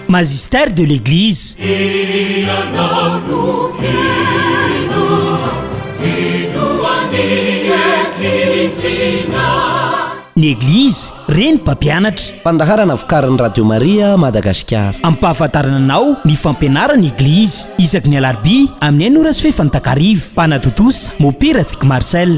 Magistère de l'Eglise. Ny Eglizy, reny mpampianatra. Fandaharana vokarin'ny Radio Maria Madagasikara. Ampahafantarana anao ny fampianaran'ny Eglizy isaky ny Alarobia amin'ny enina ora sy fahefany takariva. Mpanatontosa, Mopy Ratsikmarcel.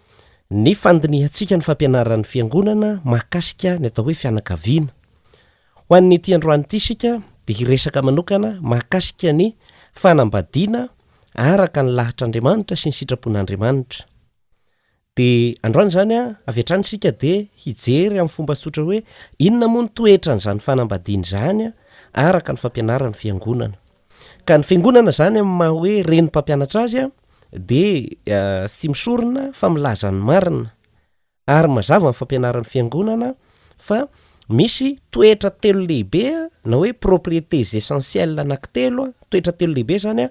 ny fandinihantsika ny fampianaran'ny Fiangonana mahakasika ny atao hoe fianakaviana. Ho an'ity androany ity isika dia hiresaka manokana mahakasika ny fanambadiana araka ny lahatr'Andriamanitra sy ny sitrapon'Andriamanitra. Dia androany izany avy hatrany isika dia hijery amin'ny fomba tsotra hoe inona moa ny toetran'izany fanambadiana izany araka ny fampianaran'ny Fiangonana. Ka ny fiangonana izany amin'ny maha hoe reny mpampianatra azy dia tsy tia misorona fa milaza ny marina. Ary mazava amin'ny fampianaran'ny fiangonana fa misy toetra telo lehibe na hoe propriétés essentielles anankitelo, toetra telo lehibe izany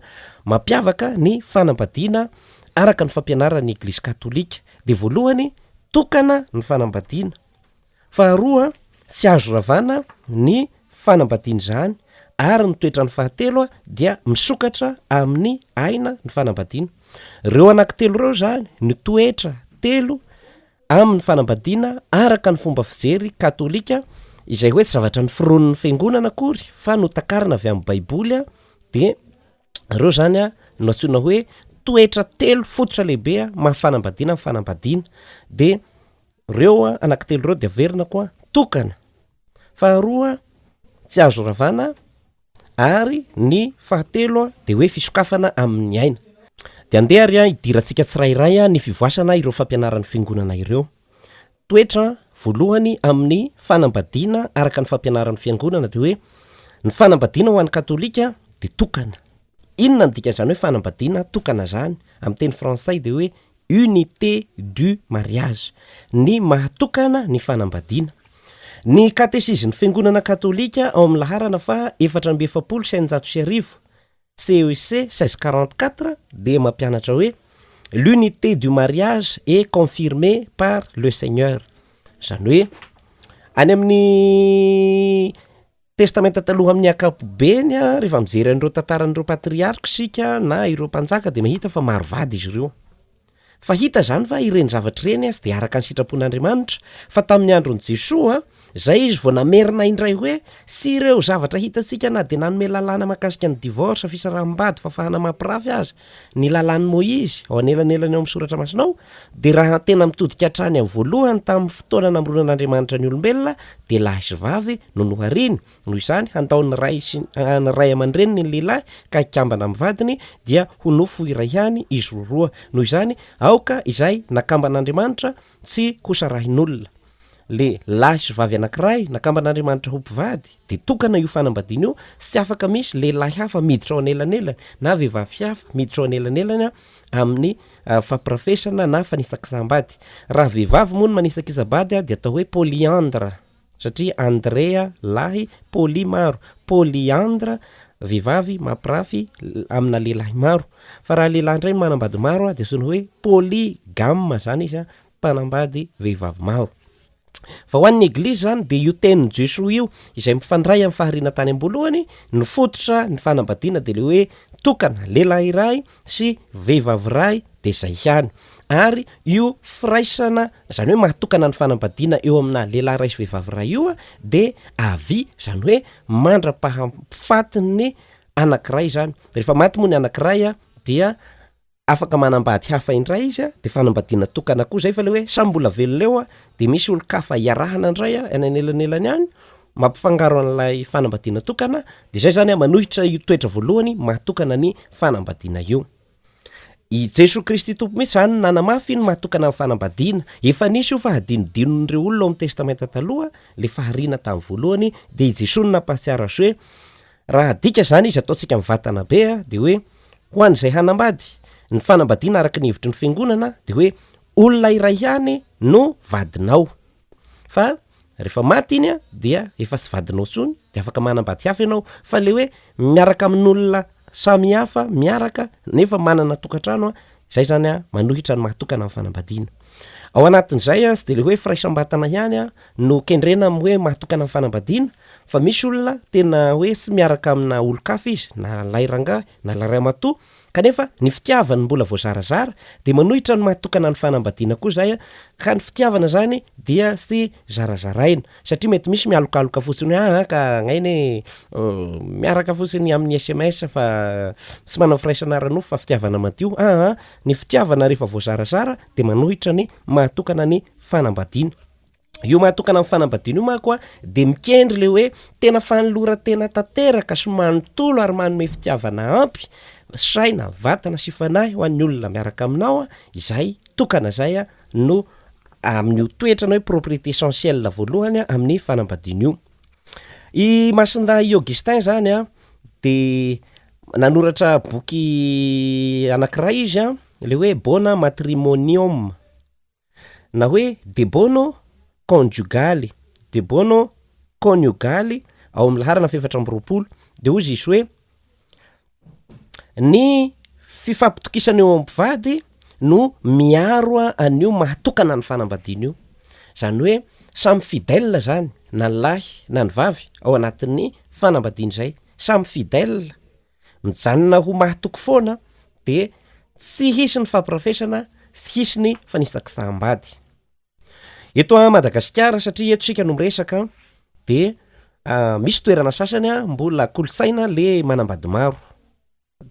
mampiavaka ny fanambadiana araka ny fampianaran'ny Eglizy Katolika. Dia voalohany, tokana ny fanambadiana. Faharoa, tsy azo ravana ny fanambadian'izany ary ny toetrany Fahatelo, dia misokatra amin'ny aina ny fanambadiana. Ireo anankitelo ireo izany, ny toetra telo amin'ny fanambadiana araka ny fomba fijery katolika, izay hoe tsy zavatra noforonin'ny fiangonana akory fa notakarina avy amin'ny baiboly, dia ireo izany no antsoina hoe toetra telo fototra lehibe maha fanambadiana ny fanambadiana. Dia Reo anakitelo reo dia averina koa tokana. Faharoa tsy azo ravana ary ny fahatelo dia hoe fisokafana amin'ny aina. Dia andeha ary hidirantsika tsirairay ny fivoasana ireo fampianaran'ny Fiangonana ireo. Toetra voalohany amin'ny fanambadiana araka ny fampianaran'ny Fiangonana dia hoe ny fanambadiana ho an'ny Katolika dia tokana. Inona no dikan'izany hoe fanambadiana tokana izany? Amin'ny teny frantsay dia hoe unité du mariage, ny maha tokana ny fanambadiana. Ny Katesizin'ny Fiangonana Katolika ao amin'ny laharana faha efatra amby efapolo sy eninjato sy arivo, CEC seize cent quarante-quatre, dia mampianatra hoe, L'unité du mariage est confirmée par le Seigneur, izany hoe, any amin'ny. Testamenta Taloha Amin'ny ankapobeny, rehefa mijery an'ireo tantaran'ireo patriarka isika na ireo mpanjaka, dia mahita fa maro vady izy ireo. Fa hita izany fa ireny zavatra ireny tsy dia araka ny sitrapon'Andriamanitra, fa tamin'ny andron'i Jesoa, izay izy vao namerina indray hoe, Tsy ireo zavatra hitantsika na dia nanome lalàna mahakasika ny divorce, fisaraham-bady, fahafahana mampirafy aza, ny lalàn'i Moizy, ao anelanelany ao amin'ny soratra masinao, dia raha tena mitodika hatrany amin'ny voalohany tamin'ny fotoana namoronan'Andriamanitra ny olombelona dia lahy sy vavy no nohariny, noho izany handao ny ray sy ny ray aman-dreniny ny lehilahy ka hikambana amin'ny vadiny dia ho nofo iray ihany izy roa roa, noho izany aoka izay nakamban'Andriamanitra tsy hosarahin'olona. le lahy sy vavy anakiray nakamban'Andriamanitra ho mpivady de tokana io fanambadiana io sy afaka misy lehilahy hafa miditra ao anelanelany na vehivavy hafa miditra ao anelanelany amin'ny fampirafesana na fanisakisam-bady. Raha vehivavy moa no manisakisa-bady de atao hoe polyandre satria andre lahy, poly maro, polyandre vehivavy mampirafy amina lehilahy maro. Fa raha lehilahy ndray no manambady maro de antsoina hoe polygame zany izy mpanambady vehivavy maro. Fa ho an'ny Eglizy izany, dia io tenin'i Jesoa io, izay mifandray amin'ny fahariana tany am-boalohany, ny fototra ny fanambadiana dia ilay hoe tokana, lehilahy iray sy vehivavy iray dia izay ihany. Ary io firaisana, izany hoe mahatokana ny fanambadiana eo amina lehilahy iray sy vehivavy iray io dia avia, izany hoe mandra-pahafatin'ny anankiray izany. Rehefa maty moa ny anankiray dia. afaka manambady hafa indray izy a, de fanambadiana tokana koa zay fa le hoe samy mbola velona eo a, de misy olon-kafa iarahana indray a, any anelanelany any, mampifangaro an'ilay fanambadiana tokana, de zay zany a manohitra io toetra voalohany maha tokana ny fanambadiana io. I Jesoa Kristy Tompo mihitsy zany no nanamafy ny maha tokana ny fanambadiana, efa nisy io fa hadinodinon'ireo olona ao amin'ny Testamenta Taloha, le fahariana tamin'ny voalohany, de i Jesoa no nampahatsiaro azy hoe Raha adika izany izy ataontsika mivatana be dia hoe ho an'izay hanambady, ny fanambadiana araka ny hevitry ny fiangonana dia hoe olona iray ihany no vadinao fa rehefa maty iny dia efa tsy vadinao intsony dia afaka manambady hafa ianao fa le hoe miaraka amin'olona samy hafa miaraka nefa manana tokantrano Izay izany an, manohitra ny maha tokana ny fanambadiana. Ao anatin'izay an, tsy dia ilay hoe firaisam-batana ihany an, no kendrena amin'ny hoe maha tokana ny fanambadiana, fa misy olona tena hoe tsy miaraka amina olon-kafa izy, na lahy rangahy, na lahy ramatoa, kanefa ny fitiavany mbola voazarazara, dia manohitra ny maha tokana ny fanambadiana koa izay an, ka ny fitiavana izany dia tsy zarazaraina. Satria mety misy mialokaloka fotsiny hoe aa ka agnainy e, miaraka fotsiny amin'ny sms fa tsy manao firaisana ara-nofo fa fitiavana madio aa, ny fitiavana rehefa voazarazara dia manohitra ny mahatokana ny fanambadiana. Io mahatokana ny fanambadiana io manko a dia mikendry le hoe tena fanoloran-tena tanteraka sy manontolo ary manome fitiavana ampy saina, vatana sy fanahy ho an'ny olona miaraka aminao izay tokana izay a, no amin'io toetrany hoe propriété essentielle voalohany amin'ny fanambadiana io. I Masindahy Augustin zany a de nanoratra boky anankiray izy a le hoe Bona Matrimonium na hoe De Bono Conjugaly, De Bono Kôniogaly ao amin'ny laharana fahefatra amby roapolo de hoy izy hoe, Ny fifampitokisana eo amin'ny mpivady no miaro an'io maha tokana ny fanambadiana io. Izany hoe samy fidèle izany na ny lahy na ny vavy ao anatin'ny fanambadiana izay. Samy fidèle, mijanona ho mahatoky foana dia tsy hisy ny fampirafesana, tsy hisy ny fanisakisaham-bady. Eto a Madagasikara satria eto isika no miresaka dia misy toerana sasany a mbola kolontsaina le manambady maro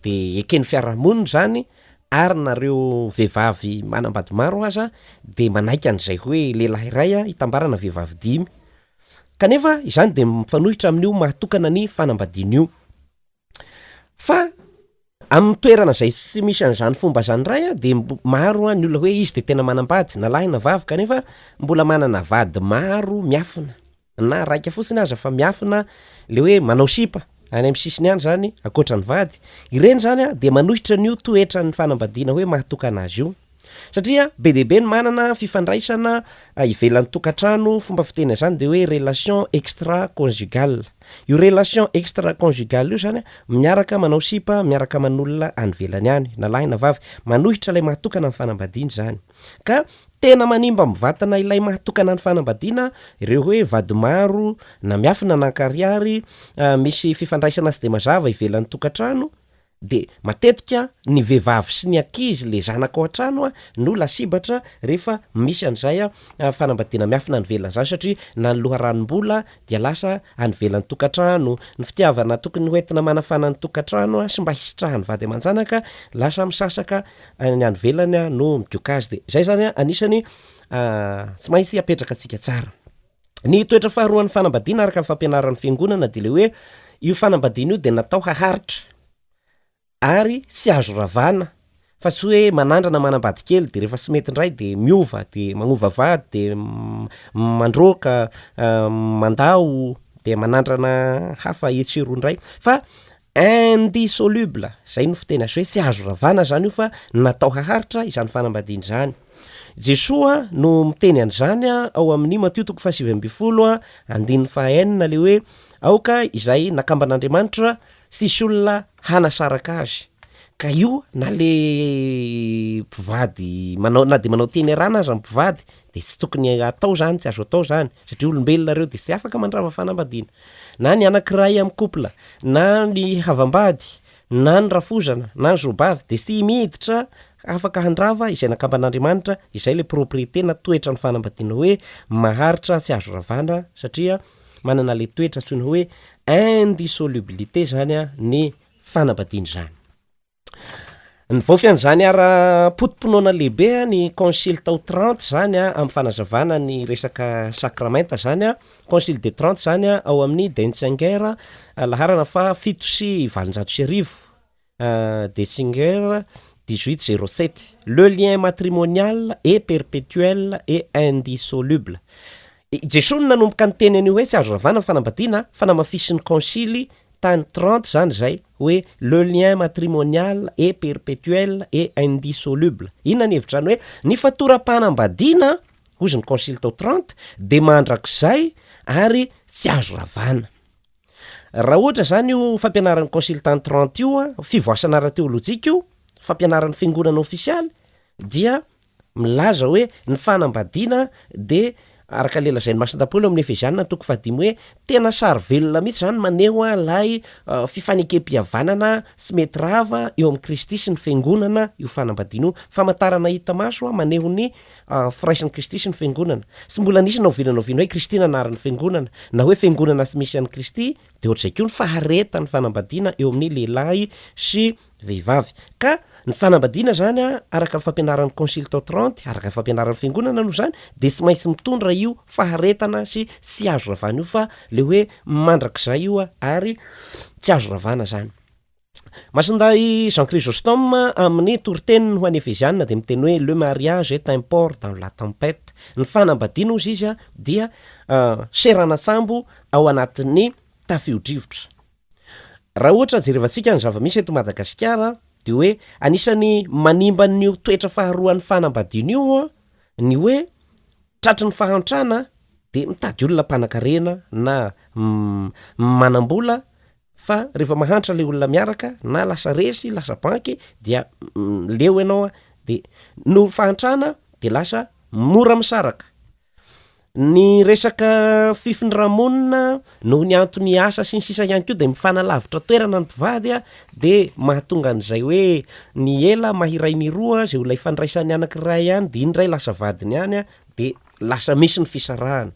dia eken'ny fiarahamonina izany ary nareo vehivavy manambady maro aza dia manaiky an'izay hoe lehilahy iray a hitambarana vehivavy dimy kanefa izany dia mifanohitra amin'io maha tokana ny fanambadiana io. Fa amin'ny toerana izay tsy misy an'izany fomba izany indray an, dia mb- maro an, ny olona hoe izy dia tena manambady na lahy na vavy kanefa mbola manana vady maro miafina, na raika fotsiny aza fa miafina le hoe manao sipa any amin'ny sisiny any zany ankoatra ny vady, ireny zany an dia manohitra an'io toetran'ny fanambadiana hoe mahatokana azy io. Satria be dia be ny manana fifandraisana ivelan'ny tokantrano, fomba fiteny an'izany dia hoe relation extra conjugal. Io relation extra conjugal io zany miaraka manao sipa, miaraka aman'olona any ivelany any, na lahy na vavy, manohitra ilay mahatokana ny fanambadiana izany. Ka tena manimba amin'ny vatana ilay mahatokana ny fanambadiana ireo hoe vady maro na miafina na ankarihary, misy fifandraisana tsy dia mazava ivelan'ny tokantrano, De matetika ny vehivavy sy ny ankizy le zanaka ao an-trano a no lasibatra rehefa misy an'izay a fanambadiana miafina any ivelany zany satria na ny loharanom-bola dia lasa any ivelan'ny tokantrano, ny fitiavana tokony ho entina manafana ny tokantrano a sy mba hisitrahan'ny vady aman-janaka lasa misasaka ny any ivelany a no midioka azy de zay zany a anisany a tsy maintsy apetraka antsika tsara. Ny toetra faharoan'ny fanambadiana araka ny fampianaran'ny Fiangonana dia ilay hoe io fanambadiana io dia natao haharitra ary tsy azo ravana fa tsy hoe manandrana manambady kely dia rehefa tsy mety indray dia miova dia manova vady dia mandroaka, mandao dia manandrana hafa etsy sy eroa indray fa Indissoluble, izay no fiteny azo hoe tsy azo ravana izany io fa natao haharitra izany fanambadiana izany. Jesoa no miteny an'izany ao amin'ny Matio toko fahasivy ambin'ny folo andininy fahaenina ilay hoe aoka izay nakamban'Andriamanitra tsisy olona hanasaraka azy. Ka io na le mpivady manao na dia manao teny arana aza ny mpivady Dia tsy tokony atao izany, tsy azo atao izany, satria olombelona ireo dia tsy afaka mandrava fanambadiana. Na ny anankiray amin'ny couple, na ny havam-bady, na ny rafozana, na ny zoabavy dia tsy miditra afaka handrava izay nakamban'Andriamanitra, izay ilay propriété na toetra ny fanambadiana hoe maharitra tsy azo ravana satria manana ilay toetra antsoina hoe indissolubilité izany ny fanambadiana izany. Nivaofy an'izany ara-poto-pinoana lehibe ny Concile tao Trente izany an, amin'ny fanazavana ny resaka sakramenta izany an, Concile de Trente izany an, ao amin'ny Denzinger, laharana faha fito sy valonjato sy arivo, Denzinger dix huit zero sept, Le lien matrimonial est perpetuel et indissoluble, I Jesoa no nanomboka niteny an'io hoe tsy azo ravana ny fanambadiana an, fa namafisin'ny konsily tany Trente izany izay hoe le lien matrimonial est perpetuel et indissoluble. Inona ny hevitrany hoe ny fatoram-panambadiana an, hozy ny konsily tao Trente, dia mandrakizay ary tsy azo ravana. Raha ohatra izany io fampianaran'ny konsily tany Trente io an, fivoasana ara-teolojika io, fampianaran'ny fiangonana ofisialy, dia milaza hoe ny fanambadiana dia araka ilay lazain'ny Masina Paoly ao amin'ny Efeziana toko fahadimy hoe tena sary velona mihitsy izany maneho ilay fifanekem-pihavanana tsy mety rava eo amin'i Kristy sy ny Fiangonana io fanambadiana io, famantarana hita maso maneho ny firaisan'i Kristy sy ny Fiangonana. Tsy mbola nisy na oviana na oviana hoe Kristy nanary ny Fiangonana, na hoe Fiangonana tsy misy an'i Kristy Dia ohatr'izay koa ny faharetan'ny fanambadiana eo amin'ny lehilahy sy vehivavy. Ka ny fanambadiana izany, araka ny fampianaran'ny Consultant Trente, araka ny fampianaran'ny Fiangonana aloha izany, dia tsy maintsy mitondra io faharetana sy tsy azo ravana io fa ilay hoe mandrakizay io ary tsy azo ravana izany. Masindahy Jean Chrysostome amin'ny toriteniny ho an'ny Efeziana dia miteny hoe le mariage est un port dans la tempête. Ny fanambadiana hozy izy dia seranan-tsambo ao anatin'ny tafio-drivotra. Raha ohatra jerevantsika ny zava-misy eto Madagasikara dia hoe anisan'ny manimba an'io toetra faharoan'ny fanambadiana io ny hoe tratry ny fahantrana dia mitady olona mpanankarena na manam-bola fa rehefa mahantra ilay olona miaraka na lasa resy lasa banky dia mm, leo ianao a de noho fahantrana de lasa mora misaraka ny resaka fifindra-monina noho ny antony asa sy ny sisa ihany koa de mifanalavitra toerana ny mpivady a de mahatonga an'izay hoe ny ela mahiray ny roa zay olona ifandraisan'ny anankiray ihany de iny indray lasa vadiny ihany a de lasa misy ny fisarahana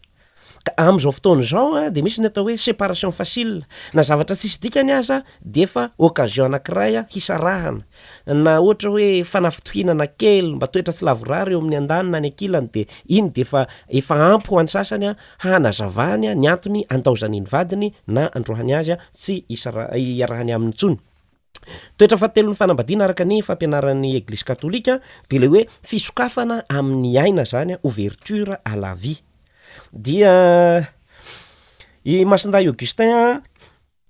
Ka amin'izao fotoana izao dia misy ny atao hoe séparation facile, na zavatra tsisy dikany aza dia efa occasion anankiray hisarahana, na ohatra hoe fanafitohinana kely mba toetra tsy lavorary eo amin'ny andaniny na any ankilany dia iny dia efa efa ampy ho an'ny sasany hanazavany ny antony andaozany ny vadiny na androahany azy tsy hisara iarahany aminy intsony. Toetra fahatelon'ny fanambadiana araka ny fampianaran'ny Eglizy Katolika dia ilay hoe fisokafana amin'ny aina izany, ouverture à la vie. Dia i Masindahy Augustin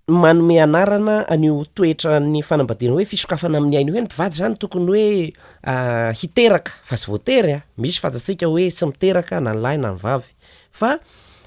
manome anarana an'io toetran'ny fanambadiana hoe fisokafana amin'ny aina io hoe ny mpivady izany tokony hoe hiteraka fa tsy voatery an, misy fantatsika hoe tsy miteraka na ny lahy na ny vavy, Fa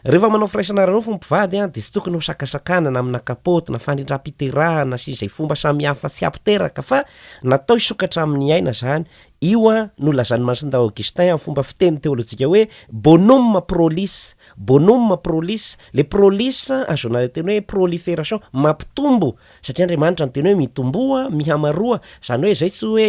rehefa manao firaisana ara-nofo ny mpivady dia tsy tokony hosakasakanana amina kapoty na fanindram-piterahana sy izay fomba samihafa tsy hampiteraka fa natao hisokatra amin'ny aina izany, io no lazan'i Masindahy Augustin amin'ny fomba fiteny teolojika hoe bonum prolis, bonum prolis, ilay prolis ahazoana ilay teny hoe proliferation, mampitombo, satria Andriamanitra niteny hoe mitomboa, mihamaroa, izany hoe izay tsy hoe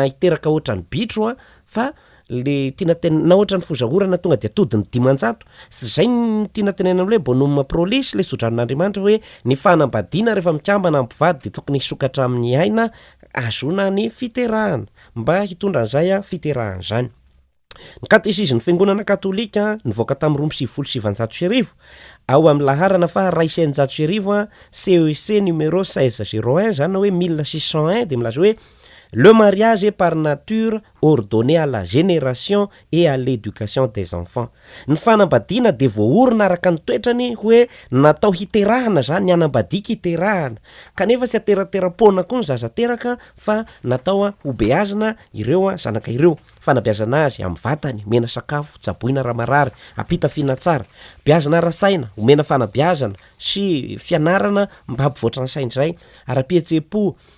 hiteraka ohatran'ny bitro fa le tiana ten na ohatran'ny fozaorana tonga dia tody ny dimanjato sy zay ny tiana tenenina amle bonum prolis le sodranon'andriamanitra hoe ny fanambadiana rehefa mikambana ampivady dia tokony hisokatra amin'ny aina azona ny fiterahana mba hitondra an'izay a fiterahana zany ny katesizin'ny fiangonana katolika nivoaka tamin'ny roa amby sivifolo sy sivanjato sy arivo ao amin'ny laharana faha ray sy eninjato sy arivo a CEC e numéro 1601 zany na hoe mille six cent un dia milaza hoe le mariage est par nature ordonner à la génération et à l'éducation des enfants. Ny fanambadiana dia voaorina araka ny toetrany hoe natao hiterahana izany, ny hanambadiako hiterahana. Kanefa tsy haterateram-poana koa ny zaza teraka fa natao hobeazina ireo zanaka ireo. Fanabeazana azy amin'ny vatany, omena sakafo, tsaboina raha marary, ampitafiana tsara. Beazina ara-tsaina, omena fanabeazana sy fianarana mba hampivoatra ny sainy izay. Ara-pihetseham-po,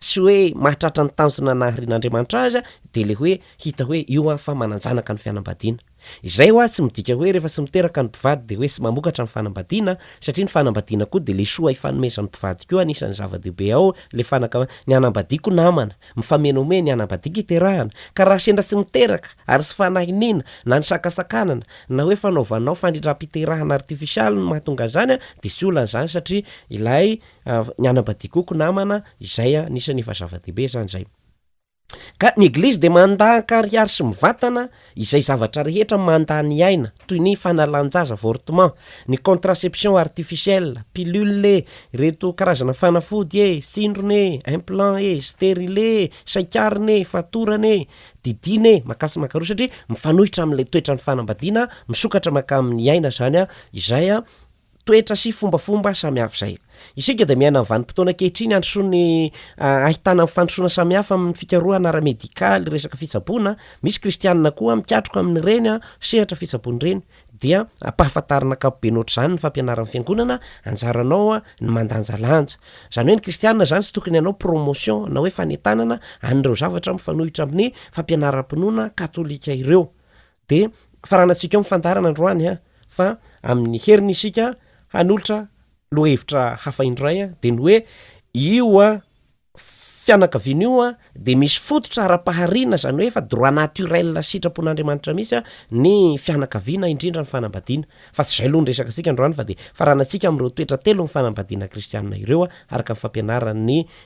Tsy hoe mahatratra ny tanjona naharian'Andriamanitra azy dia le hoe hita hoe io aho fa manan-janaka ny fianambadiana. Izay hoa tsy midika hoe rehefa tsy miteraka ny mpivady dia hoe tsy mamokatra ny fanambadiana, satria ny fanambadiana koa dia le soa ifanomezan'ny mpivady koa anisan'ny zava-dehibe ao le fanaka ny hanambadiako namana, mifamenomehy ny hanambadiako iterahana, ka raha sendra tsy miteraka ary tsy fanahiniana na ny sakasakanana na hoe fanaovanao fandrindram-piterahana artifisialy no mahatonga an'izany dia tsy olana izany satria ilay ny anabadikoko namana izay a, anisan'ny efa zava-dehibe zany zay. Ka ny eglizy dia mandà an-karihary sy mivatana izay zavatra rehetra mandà ny aina, toy ny fanalan-jaza, avortement, ny contraception artificielle, pilule e, ireto karazana fanafody e, tsindrona e, implant e, stérile e, saikarina e, fatorana e, didiana e, makà sy makaroa satria mifanohitra amin'ilay toetran'ny fanambadiana misokatra makà amin'ny aina zany a, izay a, toetra sy fombafomba samy hafa izay. Isika dia miaina amin'ny vanim-potoana ankehitriny handrosoan'ny ahitana ny fandrosoana samy hafa amin'ny fikarohana ara-medikaly, resaka fitsaboana, misy kristianina koa mikatroka amin'ireny sehatra fitsaboana ireny, dia ampahafantarina ankapobeny ohatr'izany ny fampianaran'ny Fiangonana, anjaranao ny mandanjalanja. Izany hoe ny kristianina izany tsy tokony hanao promotion na hoe fanentanana an'ireo zavatra mifanohitra amin'ny fampianaram-pinoana katolika ireo. Dia faranantsika eo ny fandaharana androany a! fa amin'ny heriny isika hanolotra lohahevitra hafa indray a! dia ny hoe io a fianakaviana io a dia misy fototra ara-pahariana izany hoe efa droit naturel sitrapon'Andriamanitra mihitsy a ny fianakaviana indrindra ny fanambadiana fa tsy izay aloha ny resaka antsika androany fa dia faranantsika amin'ireo toetra telo ny fanambadiana kristiana ireo a! araka ny fampianaran'ny